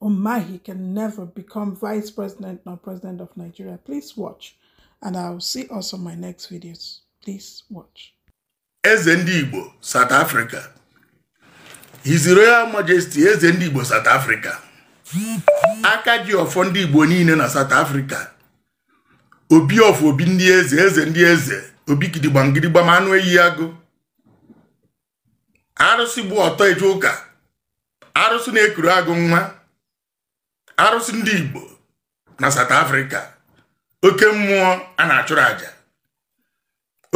Umahi can never become vice president nor president of Nigeria. Please watch. And I'll see also my next videos. Please watch. Eze ndị Igbo, South Africa. His Royal Majesty, Eze ndị Igbo, South Africa. Aka ji ọfọ ndị Igbo niile na South Africa. Obi ọfọ obi ndị eze, eze ndị eze, obi gidigbam gidigbam anụ eyi agụ. arụsị gba ọtọ eje ụka arụsị na-ekuru agụ nwa arụsị ndị Igbo na South Africa oke mmụọ a na-achụrụ aja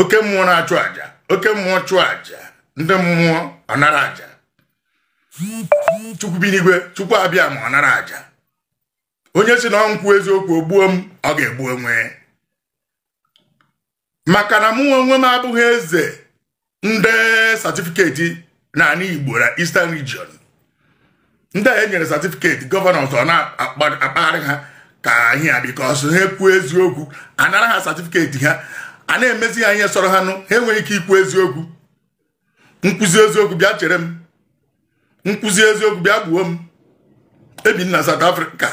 oke mmụọ na-achụ aja oke mmụọ chụọ aja ndị mmụọ anara aja chukwu bi n'igwe chukwu abịama anara aja onye sị na m kwuo eziokwu o gbuo m ọ ga-egbu onwe maka na mụ onwe m abụghị eze ndị satifiketi n'anị Igbo na Eastern Region ndị e nyere satifiketi governors a na-akpagharị ha ka ihe a because ha kwuo eziokwu anara ha satifiketi ha a na-emezi ha ihe sọrọ ha nụ ha enweghị ike ikwu eziokwu m kwuzie eziokwu bịa chere m m kwuzie eziokwu bịa gbuo m ebi m na South Africa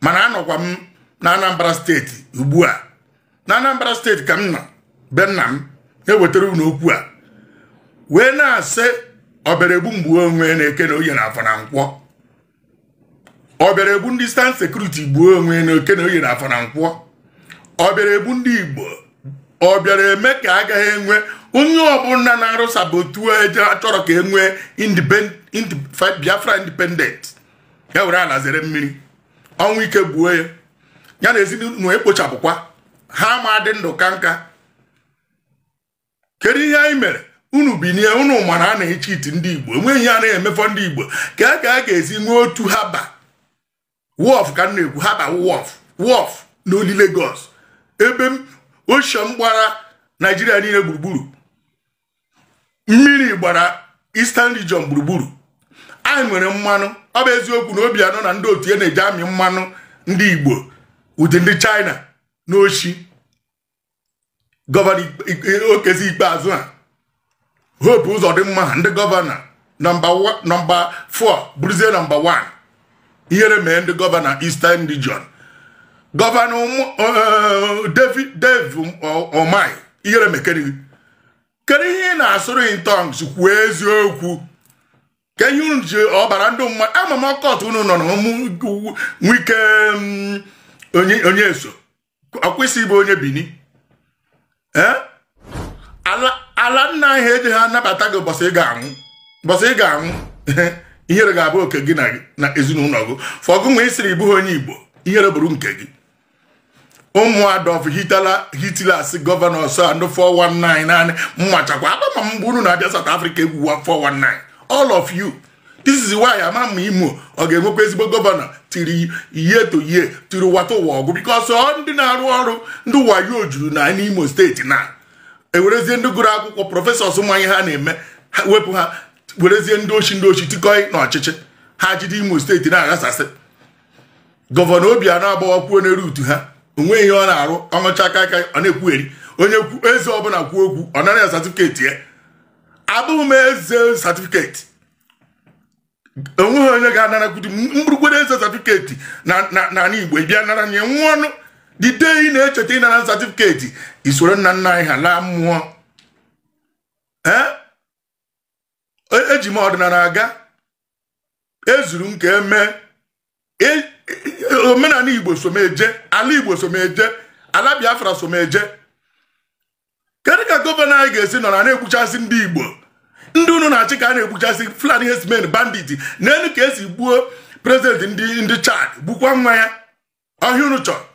mana anọkwa m na Anambra steeti ugbu a na Anambra steeti ka m nọ be nna m ewetara unu okwu a wee na-asị ọ bịara egbu m gbuo onwe na eke na oye na afọ na nkwọ ọ bịara egbu ndị Eastern security gbuo onwe na eke na oye na afọ na nkwọ ọ bịara egbu ndị igbo ọ bịara eme ka agaghị enwe onye ọbụla na-arụ sabotage achọrọ ka enwee biafra independent ya were ala zere mmiri ọnwụ ike gbuo ya ya na ezinụlọ ekpochapụkwa ha ma-adị ndụ kaa nka kedu ihe anyị mere unu binie unu ma na a na-echiti ndị igbo enweghị ihe a na-eme for ndị igbo ka a ka a ga-esi nwee otu harbour wharf ka m na-ekwu harbour wharf n'only Lagos ebe ocean gbara naijiria niile gburugburu mmiri gbara Eastern Region gburugburu anyị nwere mmanụ ọ bụ eziokwu na Obiano na ndị otu ya na-eji amị mmanụ ndị igbo with ndị China n'oshi gọvanọ Okezie Ikpeazụ a Hope Ụzọdịmma ndị gọvanọ nọmba 4 bụrụzie nọmba 1 ihere mee ndị gọvanọ Eastern Region gọvanọ eh, David Dave Umahi ihere mekere kedu ihe ị na-asụrụ in tongues kwuo eziokwu ka ihe unu ji ọbara ndị mmadụ ama m occult unu nọ na Wike mm, onye eso ọkwa ị sị ị bụ onye bini eh? ala nna anyị ejeghị anabata gị ụbọchị ị ga-anwụ ihere ga-abụ oke gị na ezinụlọ gị for gị nwa ị sịrị ị bụghị onye igbo ihere bụrụ nke gị ụmụ Adolf Hitlers gọvanọs and 419 naanị mmachakwa akpama mgbe unu na-abịa South Africa egwuwa 419 all of you this is why ama m ma imo ọ ga-enwekwa ezigbo gọvanọ tiri ihe to ihe tiri wata ụwa agwụ because ọ ndị na-arụ ọrụ ndị wayo juru na n'imo steeti na ewerezie ndị gụrụ akwụkwọ prọfesọs ma ihe ha na-eme ha wepụ ha werezie ndị oshi ndị oshi tikọọ na ọchịchị ha jide imo steeti na-aghasasị gọvanọ obianọ agbawakwuo n'eru utu ha onweghị ihe ọ na-arụ ọ ṅụchaa kaịkaị ọ na-ekwugheri onye eze ọbụla kwuo okwu ọ nara ya satifiketi ya abụghị m eze satifiketi onweghị onye ga-anarakwudi mgburugbere eze satifiketi n'ala Igbo bịa nara ya nwa ọnụ the day ị na-echeta ịnara satifiketi i soro nna nna anyị ha laa mmụọ eji m ọdịnala aga ezuru m ka emee e, omenala igbo so m eje ala igbo so m eje ala biafra so m eje kedu ka gọvanọ anyị ga-esi nọ na na-egbuchasị ndị igbo ndị unu na-achị ka a na-egbuchasị fulani herdsmen bandit neenụ ka e si gbuo prezidenti ndị chad gbukwa nwa ya ọ ihe unu chọrọ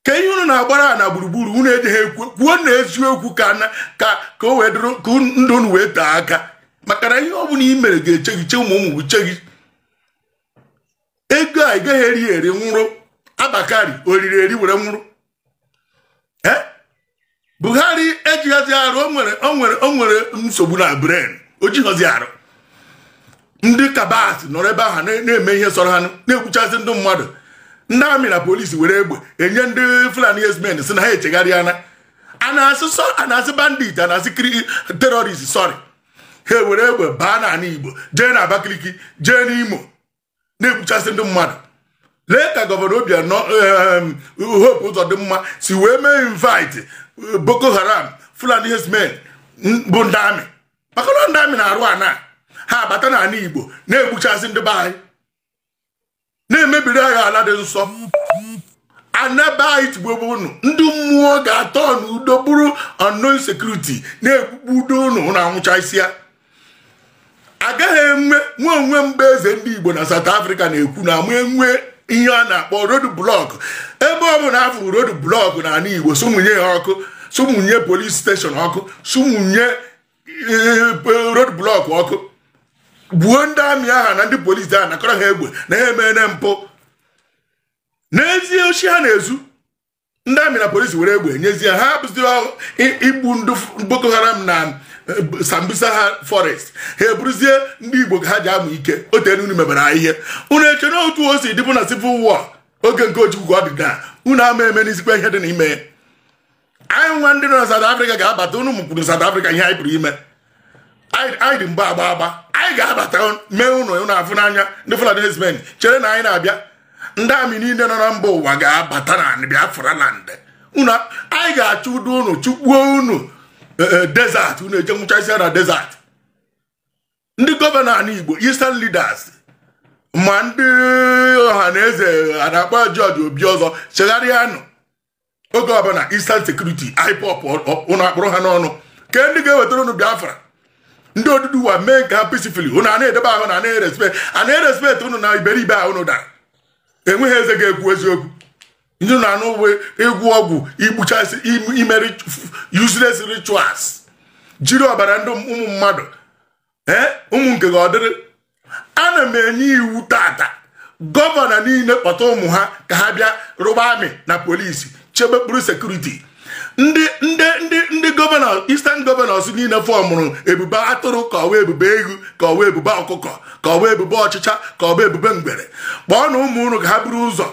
ka ihe unu na-agbara na gburugburu unu ejeghị ekwu kwuonụ eziokwu ka ka ka o wee dịrị ka ndụ unu wee tee aka maka na ihe ọ bụla i mere ga-eche gị che ụmụ ụmụ che gị ego a ị gaghị eri eri nwụrụ Abba Kyari o riri eri were nwụrụ eh? buhari ejighọzi arụ o nwere nsogbu na brain o jighọzi arụ ndị cabals nọrọ ebe ahụ na-eme ihe sọrọ ha na-egbuchasị ndị mmadụ ndị amị na polisi were egbe enye ndị fulani herdsmen sị na ha echegharịana a na-asị bandit a na-asị terrorist sorry ha ewere egbe baa n'ala igbo jee na abakaliki jee n'imo na-egbuchasị ndị mmadụ lee ka gọvanọ Obianọ Hope Uzodimma si wee mee invite eh, Boko Haram Fulani herdsmen bụ ndị amị maka na ndị amị na-arụ ana ha abata n'ala Igbo na-egbuchasị ndị be anyị na-emebiri anyị ala dị nsọ ana be anyị tigbuokwe unu ndị mmụọ ga-atọ n'udo bụrụ unknown security na-egbugbu udo unu na anwụcha isi ya agaghị enwe nwe onwe mgbe eze ndị igbo na south africa na-ekwu na ama enwe ihe a na-akpọ road block ebe ọ bụla afụrụ road block na ala igbo sụmụnye ya ọkụ sụmụnye police station ọkụ sụmụnye eh, road block ọkụ gbuo ndị amị aha na ndị polis ahụ nakọrọ ha egbe na ha emere mpụ na-ezu oshi ha na-ezu ndị amị na polisi were egbe e nyezie ha bụzi igbu ndị Boko Haram na eh, Sambisa ha forest ya abụrụzie ndị Igbo ka ha ji amụ ike o teenụ unu mebere ihe unu eche na otu o si dịbụ na civil war oge nke Ojukwu ka ọ dị taa unu ama eme n'izikwa ihe dị n'ime anyị nwa ndị nọ na South Africa ga-abata unu mụkwuru South Africa ihe anyị pụrụ ime anyị dị mgba agba agba anyị ga-abata mee unu unu afụ n'anya ndị Fulani herdsmen chere na anyị na-abịa ndị amị niile nọ na mba ụwa ga-abata na Biafra land unu anyị ga-achụdo unu chụkpuo unu e, e, desert unu eje nwụchasịa na desert ndị gọvanọ ala Igbo eastern leaders ma ndị Ọhanaeze nakwa George Obiozor chegharịanụ oge ọbụla Eastern Security IPOB ụnụ akpụrụ ha n'ọnụ ke ndị ga-ewetara ụnụ Biafra ndị Oduduwa mee nke ha peacefully ụnụ a na-edebe ahụ na anaghị respect a na-erespect ụnụ na iberibe ahụ ụnụ dara enweghị eze ga-ekwu eziokwu ndị na anụ ịgwọ ọgwụ igbuchasị ime useless rituals jiri ọbara ndị ụmụ mmadụ ee ụmụ nke gị ọ dịrị ana m enye iwu tata gọvanọ niile kpọta ụmụ ha ka ha bịa rụba amị na polisi chebe kpụrụ security ndị ndị ndị ndị gọvanọ eastern governors niile fọmụrụ ebube atụrụ ka ọwa ebube eghu ka ọwa ebube ọkụkọ ka ọwa ebube ọchịcha ka ọwa ebube ngwere kpọọnụ ụmụ unu ka ha buru ụzọ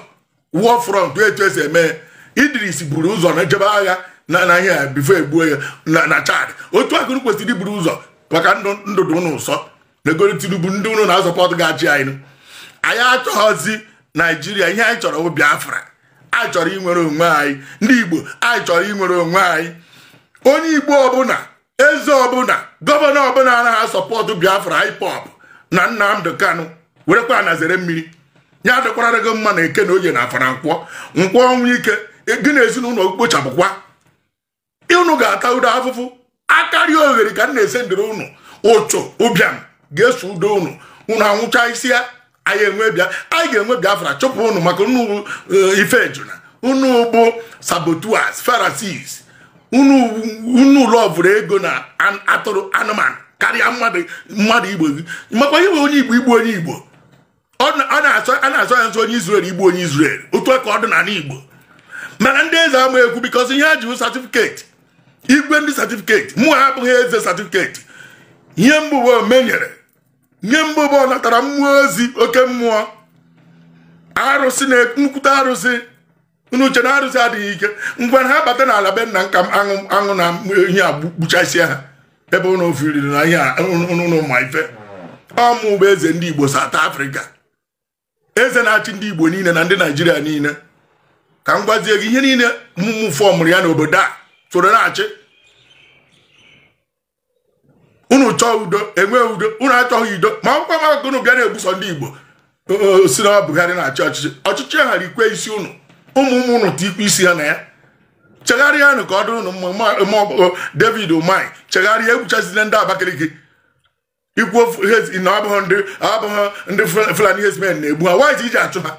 war front etu esi eme Idris buru ụzọ na jebe agha na na ihe a before e gbuo ya na na Chad otu a ka ụnụ kwesịrị iburu ụzọ maka ndụ ndụ dị ụnụ ụsọ megoro Tinubu ndị ụnụ na-asọpọtụ ga-achị anyị anyị achọghọzi Naijiria ihe anyị chọrọ bụ Biafra anyị chọrọ inwere onwe anyị ndị Igbo anyị chọrọ inwere onwe anyị onye Igbo ọbụla eze ọbụla gọvanọ ọbụla anaghị asọpọtụ biafra IPOB na nnamdi kanu werekwa ana zere mmiri ya adịkwara gị mma na eke na oye na afọ na nkwọ nkwọ ọnwụ ike gị na ezinụlọ kpochapụkwa unu ga-atado afụfụ akaliogheri ka m na-ese ndịrị unu uchu ụbịam ga-esodo unu unu anwụchasịa anyị enwe bịa anyị ga-enwe biafra chụpụ unu maka unu eh, ife ejuna unu bụ saboteurs Pharisees unu unu lọvụrụ ego na atụrụ anụmanụ karịa mmadụ mmadụ igbo gị makwa ihe onye igbo igbu onye igbo a na-asọ ya nsọ onye Izrel igbu onye Izrel otu a ka ọ dị n'ala Igbo mana ndị eze ama ekwu because ihe ha ji certificate igwe ndị certificate mụwa abụghị eze certificate ihe m bụ bụ omenyere nye m bụ bụ ọ natara mmụọ ozi oke mmụọ arụsị na nkwute arụsị unu chee na arụsị adịghị ike ngwa ha bata n'ala be nna m ka aṅụ aṅụ na ihe a gbuchasịa ha ebe unu ofiriri na ihe unu ma ife ọ mụ bụ eze ndị Igbo South Africa eze na-achị ndị igbo niile na ndị naijiria niile ka m gwazie gị ihe niile mụ mụ fọmụrụ ya n'obodo a soro na-achị unu chọọ udo enwe udo unu achọghị udo ma akwụkwọ maka unu bịa na-egbusi ndị igbo sị na Buhari na-achị ọchịchị ọchịchị ha rikwe isi unu ụmụ ụmụ unu tikwe isi ha na ya chegharịanụ ka ọ dụrụ unu mma David Umahi chegharịa egbuchazile ndị Abakaliki i kwu na ọ bụghị ndị Fulani herdsmen na-egbu ha why i ji achụ ha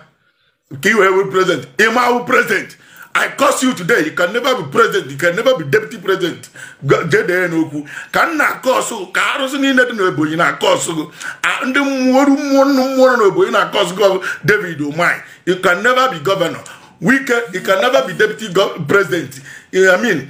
ka i wee wee president ị ma awụ president I curse you today you can never be president you can never be deputy president jee dee n'akwụkwọ m na-akọsụ ka arụsị niile dị n'Ebonyi na-akọsụ gị ndị mmụọ oru mmụọ nnụ mmụọ nọ n'Ebonyi na-akọsụ gị David Umahi you can never be governor Wike you can never be deputy president I mean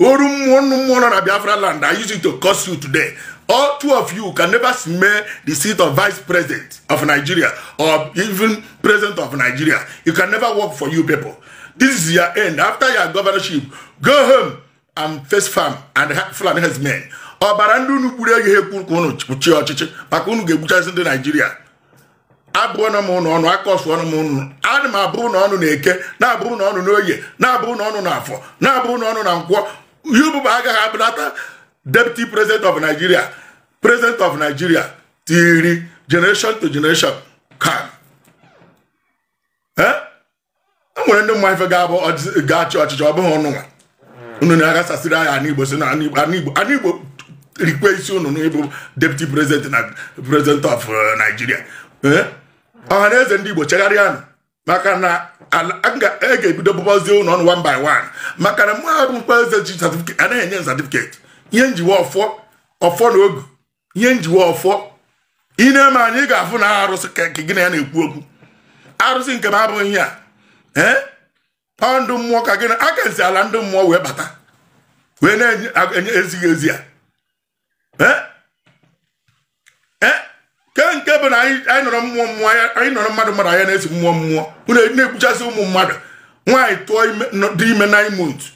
oru mmụọ nnụ mmụọ nọ na biafra land i use it to curse you today all two of you can never smell the seat of vice president of nigeria or even president of nigeria it can never work for you people this is your end after your governorship go home and face farm and fulani herdsmen ọbara ndị unu gburu eghị ekwe ka unu chịa ọchịchị maka unu ga-egbuchasị ndị naijiria abụọna m unu ọnụ akọsụọna m unu ana m abụ unu ọnụ na eke na-abụ unu ọnụ n'oye na-abụ unu ọnụ na afọ na-abụ unu ọnụ na nkwọ yububa agaghị abụlata deputy president of nigeria president of nigeria till generation to generation come o nwere ndị ma ife ga-abụ ga-achị ọchịchị ọ bụghị unu nwa unu na-aghasasịrị anyị ana igbo sị na ana igbo rikwe isi unu n'ịbụ deputy president na president of uh, Nigeria eh? ọha na eze ndị igbo chegharịanụ maka na m ga-ebido bụbazie unu ọnụ one by one maka na mụ abụkwa eze ji certificate anaghị enye certificate ihe m ji wụ ọfọ ọfọ na ogu ihe njiwe ọfọ ị na-eme anyị ga-afụ na arụsị ka gị na ya na-ekwu okwu arụsị nke m abụghị ihe a ee ọ ndị mmụọ ka gị na aka m si ala ndị mmụọ wee bata wee na-enye ezighị ezi ya ke nke bụ na anyị nọrọ mmụọ mmụọ anyị nọrọ mmadụ mmadụ anya na-esi mmụọ mmụọ na-egbuchasị ụmụ mmadụ nwaanyị tụọ dị ime nine months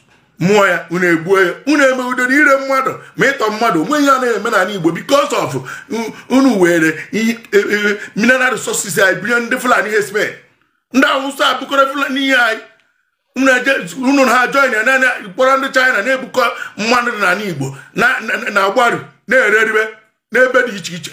mụọ ya unu egbuo ya unu eme udo na ire mmadụ ma ịtọ mmadụ o nwe ihe a na-eme n'ala Igbo because of unu were e, e, mineral resources anyị binye ndị Fulani herdsmen ndị Awụsa abụkọrọ Fulani ihe anyị unu ha join ya na kpọrọ ndị China na-ebukọ mmadụ n'ala Igbo na-agbaru na-ere eribe n'ebe dị iche iche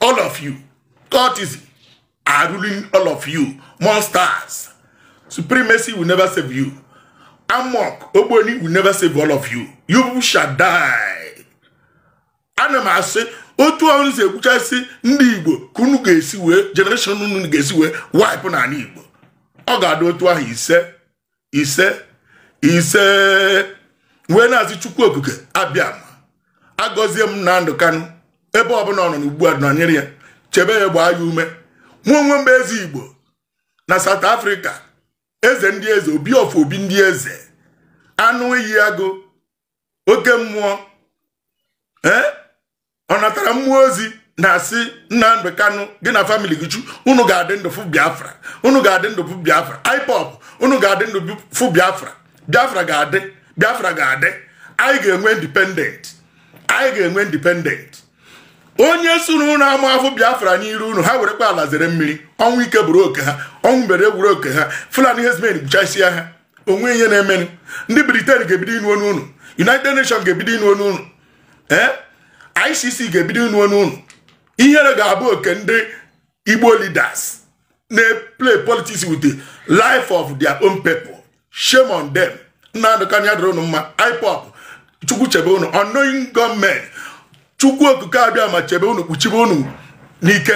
all of you cultism are ruling all of you monsters supremacy will never save you AMORC ogboni will never save all of you you shall die ana m asị otu unu si egbuchasị ndị igbo ka unu ga-esi wee generation unu ga-esi wee wipe n'ala igbo ọ ga-adị otu ahụ ise ise ise wee na-asị chukwu okike abịama gọzie Nnamdi Kanu ebe ọbụla ọ nọ n'ugbu a nọnyere ya chebe ya gbaa ya ume mụ onwe m bụ eze igbo na South Africa eze ndị eze obi of obi ndị eze anụ iyi agụ oke mmụọ ee eh? ọ natara mmụọ ozi na-asị Nnamdi Kanu gị na family gị chu unu ga-adị ndụ fụ Biafra unu ga-adị ndụ fụ Biafra IPOB unu ga-adị ndụ fụ Biafra Biafra ga-adị Biafra ga-adị anyị ga-enwe independent anyị ga-enwe independent onye sịrị unu ama afụ Biafra n'iru unu ha werekwa ala zere mmiri ọnwụ ike bụrụ oke ha ọnwụ mbere bụrụ oke ha Fulani herdsmen gbuchasịa ha o nwe ihe na-emenụ ndị Britain ga-ebido ịnụ onu unu United Nations ga-ebido ịnụ onu unu ee ICC ga-ebido ịnụ onu unu ihere ga-abụ oke ndị Igbo leaders na-play politics with the life of their own people shame on them Nnamdi Kanu ya dịrị unu mma IPOB chukwu chebe unu unknown gunmen chukwu okike abịama chebe unu kpuchibe unu n'ike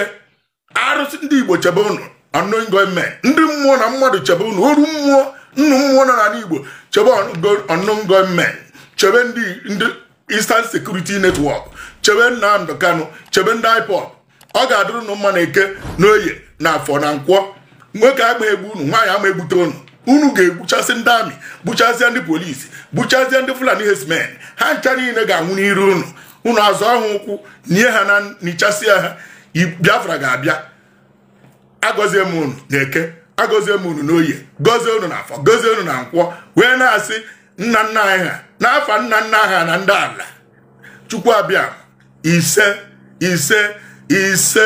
arụsị ndị igbo chebe unu unknown gunmen ndị mmụọ na mmadụ chebe unu oru mmụọ nnu mmụọ nọ n'ala igbo chebe unknown gunmen chebe ndị ndị Eastern Security Network chebe Nnamdi Kanu chebe ndị IPOB ọ ga-adịrị unu mma na eke na oye na afọ na nkwọ nwoke ama egbu unu nwaanyị ama egbute unu unu ga-egbuchasị ndị army gbuchasịa ndị police gbuchasịa ndị Fulani herdsmen ha ncha niile ga-anwụ n'iru unu unu azọ ha ụkwụ nye ha na nichasịa ha biafra ga-abịa agọzie m unu na eke agọzie m unu n'oye gọzie unu na afọ gọzie unu na nkwọ wee na-asị nna nna anyị ha n'afa nna nna ha na ndị ala chukwu abịa ise ise ise